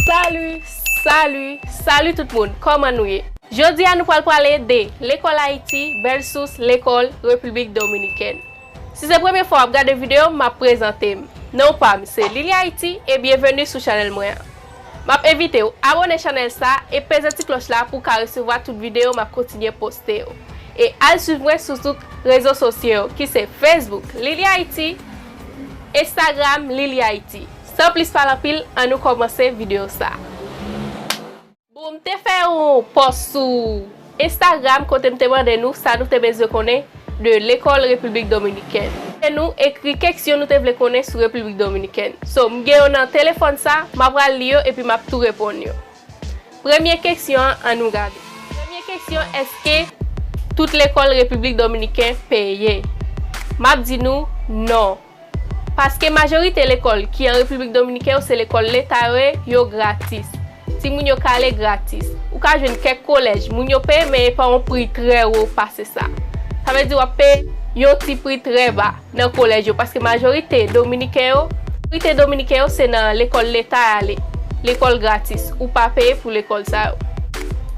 Salut Salut Salut tout moun kòman nou ye Jodi a nou pral prale de lekòl Ayiti vèsus lekòl Repiblik Dominikèn Si se premye fwa wap gade video m map prezante m non pam se Lily Haiti e byenveni sou chanèl mwen an Map envite w abone chanèl sa e peze ti klòch la pou w ka resevwa tout video map kontinye poste yo e al swiv mwen sou tout rezo sosye yo ki se Facebook Lily Haiti Instagram Lily Haiti. San plis pale anpil an nou komanse video sa. Bon m te fè yon pòs sou Instagram kote m te mande nou sa nou te bezwen konnen de lekòl Repiblik Dominikèn. E nou ekri keksyon nou te vle konnen sou Repiblik Dominikèn. So m gen yo nan telefòn sa, m ap pral li yo epi m ap tou reponn yo. Premye keksyon an an nou gade. Premye keksyon èske tout lekòl Repiblik Dominiken peye? M ap di nou non. Paske majorite lekòl ki an Repiblik Dominiken yo se lekòl leta yo ye, yo gratis. Timoun yo ka ale gratis. Ou ka jwenn kèk kolèj, moun yo peye men e pa yon pri trè wo pase sa. Sa vle di w ap peye yon ti pri trè ba nan kolèj yo paske majorite Dominiken yo, majorite Dominiken yo se nan lekòl leta y ale, lekòl gratis. Ou pa peye pou lekòl sa yo.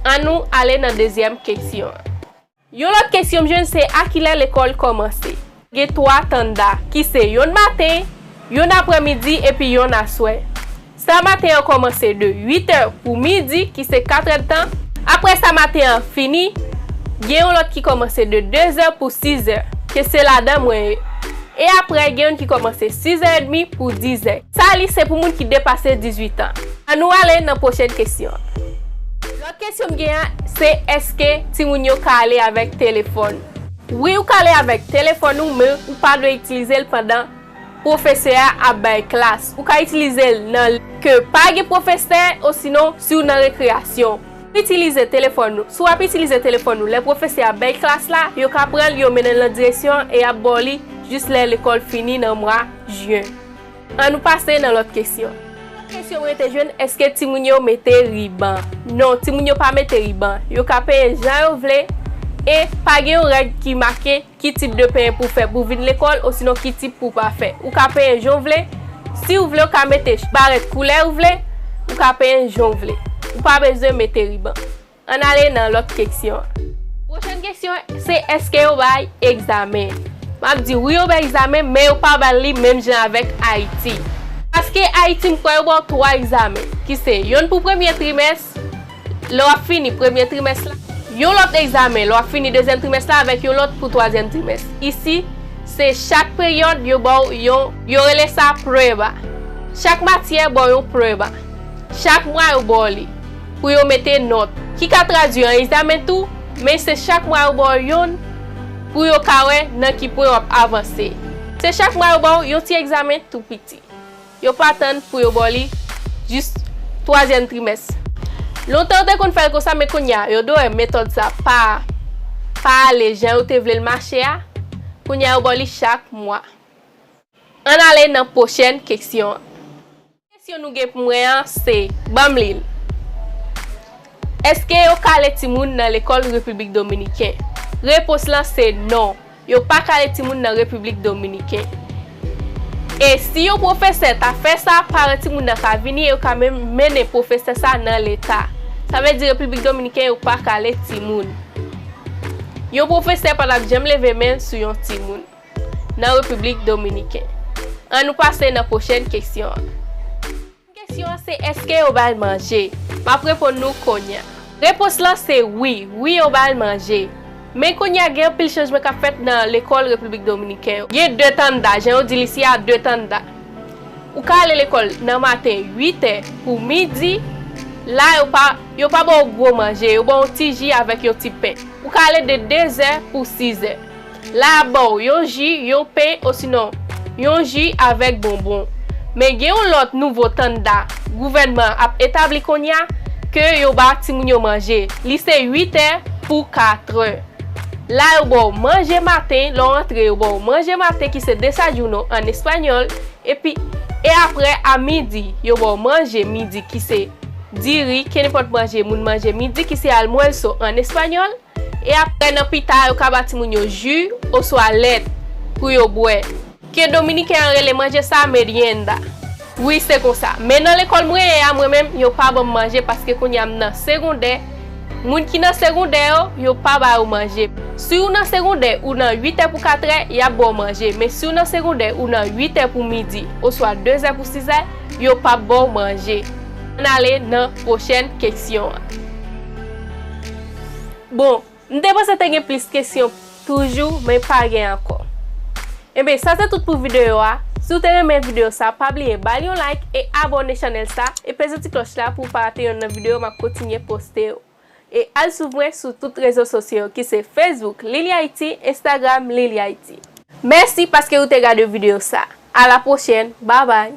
An nou ale nan dezyèm keksyon an. Yon lòt kesyon m jwenn se a kilè lekòl kòmanse? Gen 3 tanda, ki se yonn maten, yonn aprè midi epi yonn aswè. Sa maten an kòmanse de 8 è pou midi ki se 4 èdtan, aprè sa maten an fini, gen yon lòt ki kòmanse de 2 è pou 6 è, ke se ladan mwen ye, e aprè gen yonn ki kòmanse 6 è edmi pou 10 è. Sa li se pou moun ki depase 18 an. An nou ale nan pwochèn kesyon an. Lòt kesyon m gen an se eske timoun yo ka ale avèk telefòn? Wi ou ka ale avèk telefòn ou men ou pa dwe itilize l pandan pwofesè a ap bay klas. Ou ka itilize l nan lè ke pa gen pwofesè osinon si w nan rekreyasyon. Pou itilize telefòn ou, si w ap itilize telefòn ou lè pwofesè a ap bay klas la, yo ka pran l yo mennen l nan direksyon an e y ap ba w li jis lè lekòl fini nan mwa Jyen. An nou pase nan lòt kesyon. Lòt kesyon mwen te jwenn, èske timoun yo mete riban? Non, timoun yo pa mete riban. Yo ka penyen jan yo vle e pa gen yon règ ki make ki tip de penyen pou w fè pou w vin lekòl osinon ki tip pou w pa fè. Ou ka penyen jan w vle. Si w vle, ou ka mete barèt koulè ou vle. Ou ka penyen jan w vle. Ou pa bezwen mete riban. Ann ale nan lòt keksyon an. Pwochèn keksyon an se èske yo bay egzamen. M ap di wi yo bay egzamen men yo pa ba l li menm jan avèk Ayiti. Paske Ayiti m kwè yo ba w twa egzamen ki se yonn pou premye trimès lè w ap fini premye trimès la, yon lòt egzamen lè w ap fini dezyèm trimès la avèk yon lòt pou twazyèm trimès. Isi, se chak peryòd yo ba w yon, yo rele sa preba. Chak matyè ba w yon preba. Chak mwa yo ba w li. pou yo mete nòt, ki ka tradui an egzamen tou, men se chak mwa yo ba w youn pou yo ka wè nan ki pwen w ap avanse. Se chak mwa yo ba w yon ti egzamen tou piti. Yo pa tann pou yo ba w li jis twazyèm trimès. Lontan yo te konn fè l konsa men kounye a yo do wè metòd sa pa pa ale jan yo te vle l mache a, kounye a yo ba w li chak mwa. Ann ale nan pwochèn keksyon an. Kesyon nou gen pou mwen an se banm li l. Eske yo kale timoun nan lekòl Repiblik Dominiken? Repons lan se non, yo pa kale timoun nan Repiblik Dominiken. E si yon pwofesè ta fè sa, paran timoun nan ka vini e yo ka menm mennen pwofesè sa nan leta. Sa vle di Repiblik Dominiken yo pa kale timoun. Yon pwofesè pa tap janm leve men l sou yon timoun. nan Repiblik Dominiken. An nou pase nan pwochèn kesyon an. Pwochèn kesyon an se èske yo ba l manje? M ap reponn nou konya. Repons lan se wi. Wi yo ba l manje. Men konya gen anpil chanjman k ap fèt nan lekòl Repiblik Dominiken yo. Gen de tanda. Jan yo di li si a de tanda. Ou ka ale lekòl nan maten 8 è pou midi. La yo pa yo pa ba w gwo manje. Yo ba w yon ti ji avèk yon ti pen. Ou ka ale de 2 zè pou 6 zè. La ba w yon ji, yon pen osinon yon ji avèk bonbon. Men gen yon lòt nouvo tanda gouvènman an ap etabli kounya ke yo ba timoun yo manje. Li se 8 è pou 4 trè. La yo ba w manje maten, lè w antre yo ba w manje maten ki se desayuno an espanyòl epi e aprè a midi yo ba w manje midi ki se diri, kenenpòt manje moun manje midi ki se almuerzo an espanyòl. E apre nan pita yo ka ba timoun yo ju oswa lèt pou yo bwè. Ke dominiken an rele manje sa merienda. Wi se konsa. Men nan lekòl mwen ye a mwen menm yo pa banm manje paske kounye a m nan segondè. Moun ki nan segondè yo, yo pa ba yo manje. Si w nan segondè ou nan 8 è pou 4 è, y ap ba w manje. Men si w nan segondè ou nan 8 è pou midi oswa 2 zè pou 6 è, yo p ap ba w manje. Ann ale nan pwochèn keksyon an. Bon, m te panse te gen plis kesyon toujou men pa gen ankò. Enben sa se tout pou videyo a, si w te renmen videyo sa pa bliye ba l yon like e abòne chanèl sa e peze ti klòch la pou w pa rate yonn nan videyo m ap kontinye poste yo. E al swiv mwen sou tout rezo sosyo yo ki se Facebook Lilihaiti, Instagram Lilihaiti. Mèsi paske ou te gade videyo sa. A la pwochèn, babay!